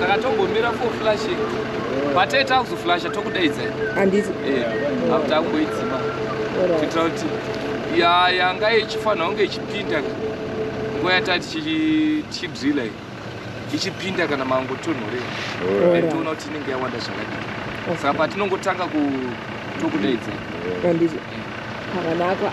saka tombomira for flashing patee takuzoflasha tokudaidza handiti eh, after akumboidzima kuitira kuti yanga ichifanira kunge ichipinda nguva yataa tichidrila iyi ichipinda kana mangotonhorera and toona kuti inenge yawanda zvakadii saka patinongotanga tokudaidza handiti pakanaka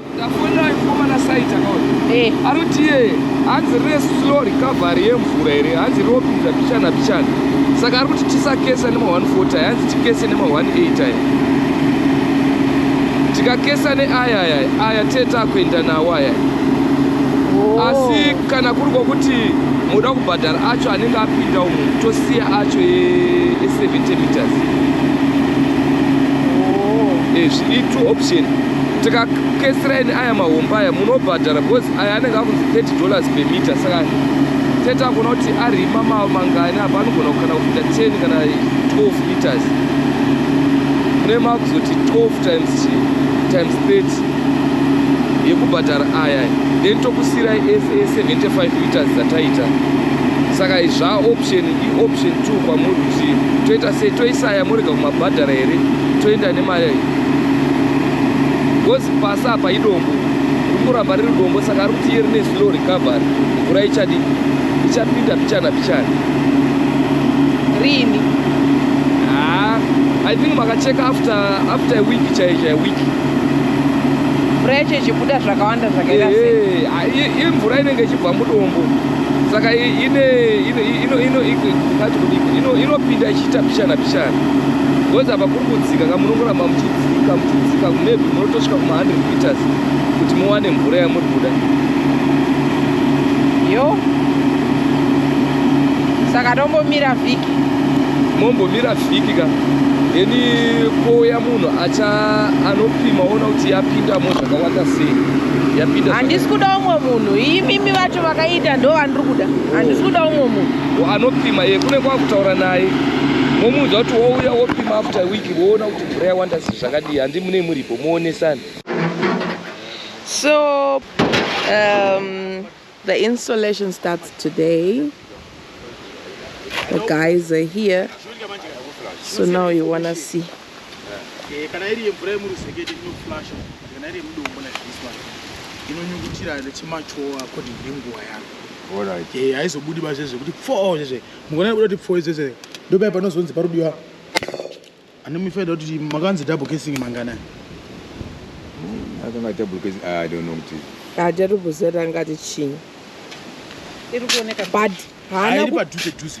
Ndafonera mukomana site akaona. Eh. Anoti iye hanzi rine slow recovery yemvura here hanzi rinopinza pichana pichana saka ari kuti tisakesa nema 140 aya hanzi tikese nema 18 aya tikakesa neaya aya aya teta kuenda nawo aya oh. asi kana kuri kwokuti muda kubhadhara acho anenge apinda umu tosiya acho e70 meters oh. ezvi eh, itwo option tikakesiraini aya mahomba aya munobhadhara because aya anenge akunzi 30 dollars per meter saka tete akuona kuti arima mangani apa anogona kukana kupinda 10 kana 12 meters mune makuzoti 12 times times 30 yekubhadhara aya then tokusirai ese 75 meters dzataita saka zva option ioption 2 kwamuri kuti toita sei toisaya morega kumabhadhara here toenda nemari because pasi apa idombo rikuramba riri dombo saka ari kuti iye rine slow recovery mvura ichadii ichapinda pichana pichana rini haa i think makacheka after after a week chaiyo chaiyo week mvura yacho ichibuda zvakawanda zvakaita sei imvura inenge ichibva mudombo saka ine inopinda ichiita pichana pichana because apa kudzika ka munokuramba muchidzika muchidzika maybe munotosvika kuma 100 meters kuti muwane mvura yamuri kuda yo saka tombomira vhiki mombomira vhiki ka then kouya munhu acha anopima ona kuti yapindamo zvakawanda sei yapinda handisi kuda umwe munhu imimi vacho vakaita ndo vandiri kuda handisi kuda umwe munhu anopima iye kune kwakutaura naye momuudza kuti wouya wopima after week woona kuti mvura yawanda si zvakadii handi mune muripo muonesani so um, the installation starts today the guys are here so now you wanna see Eh, kana iri yemvura yemuruzekete inoflasha kana iri yemudombo like this one inonyungutira chimachowa according nenguva yaro Alright. Eh, haizobudi ba zvezve kuti pfoo zvezve mukona kuda kuti pfoo zvezve ndopaya panozonzi parudiwa anomufaida kuti makanzi double casing manganani akanga double casing ah, i don't know kuti hajarubuzera ngati chinyi iri kuoneka but haana Hairi ku- padhuze dhuze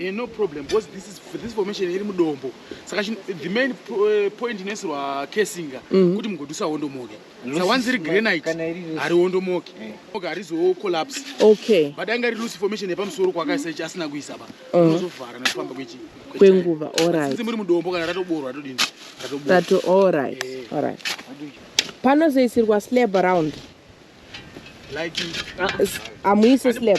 Eh, no problem because this is this formation iri mudombo saka the main eh, point inoisirwa kesinga mhm. kuti mugodusa hondomoke sa once iri granite hari hondomoke eh. oke harizo collapse okay but anga iri loose formation yepamusoro kwakaisa ichi asina kuisa pa oh. unozovhara nekufamba kwechi kwenguva alright since muri mudombo kana ratoborwa ratodini ratoborwa rato alright alright panozoisirwa slab around like amuise ah, slab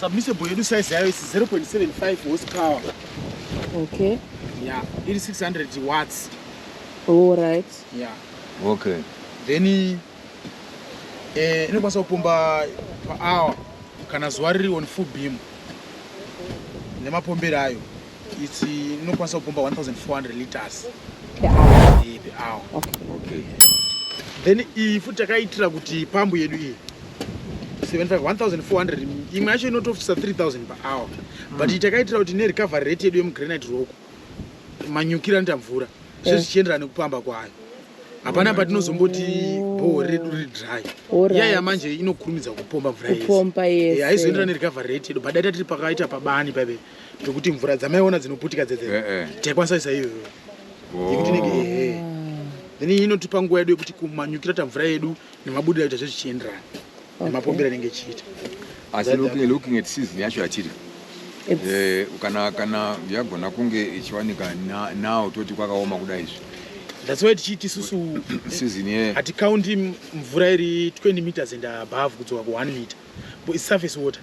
Submissible yedu size yayo is 0.75 horsepower. Okay. Yeah, it is 600 watts. All right. Yeah. Okay. Then eh inokwanisa kupomba per hour kana zuva riri on full beam nemapombero ayo. It's uh, inokwanisa kupomba 1400 liters per hour. Eh, per hour. Okay. Okay. Then iyi futi takaitira kuti pambu yedu iyi 1400 imwe yacho inotofisa 3000 per hour mm. but takaitira kuti ne recovery rate yedu yemugranite rock manyukira nita mvura eh. zve zvichienderana nekupamba kwayo hapana patinozomboti bhoho redu riri dry iya yamanje inokurumidza kupomba mvura yese haizoenderana nerecovery rate yedu but daita tiri pakaita pabani paive pekuti mvura dzamaiona dzinoputika dzedze eh, eh. taikwanisa isa iyoyo yekuti nenge ehe then inotipa nguva yedu yekuti kumanyukira ta mvura yedu nemabudira aita zvezvichienderana nemapombera anenge echiita asi looking at season yacho yatiri eh, kana kana yagona kunge ichiwanika now toti kwakaoma kuda izvi that's why tichiiti isusu hatikaundi mvura iri 20 meters and above kudzoka ku 1 meter surface water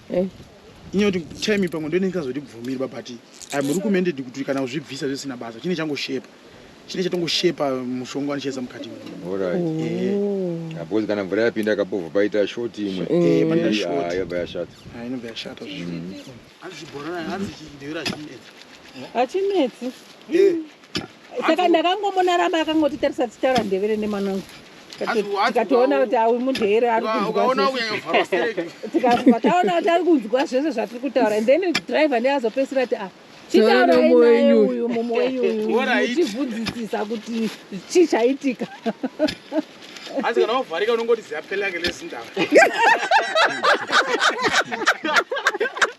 eh. inyoti time pamwe ndoine ndikazotibvumirwa but im recommended kuti kana uzvibvisa zvisina basa chine changoshepa chine chatongoshepa mushonga wanicheza mukati mbozi kana mvura yapinda kapovha paita short imwe yabva yashata inobva yashata zvichibhorana hanzi chidhevera chinetsi hachinetsi saka ndakangomuona ramba akangoti tarisa tichara ndevere nemwana wangu tikatoona kuti awi mudheere arikutaona kuti ari kunzwa zvese zvatiri kutaura and then driver ndiye azopesira kuti a chitauraiuyu mumwe wenyuuchibvunzisisa kuti chii chaitika hanzi kana wavharika unongoti ziyapelake lezindava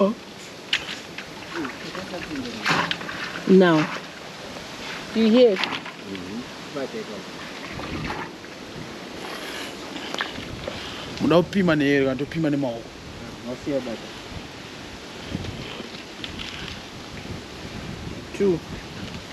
Oh. Now, do you hear? Mm -hmm. muda kupima neyero kana topima nemaoko two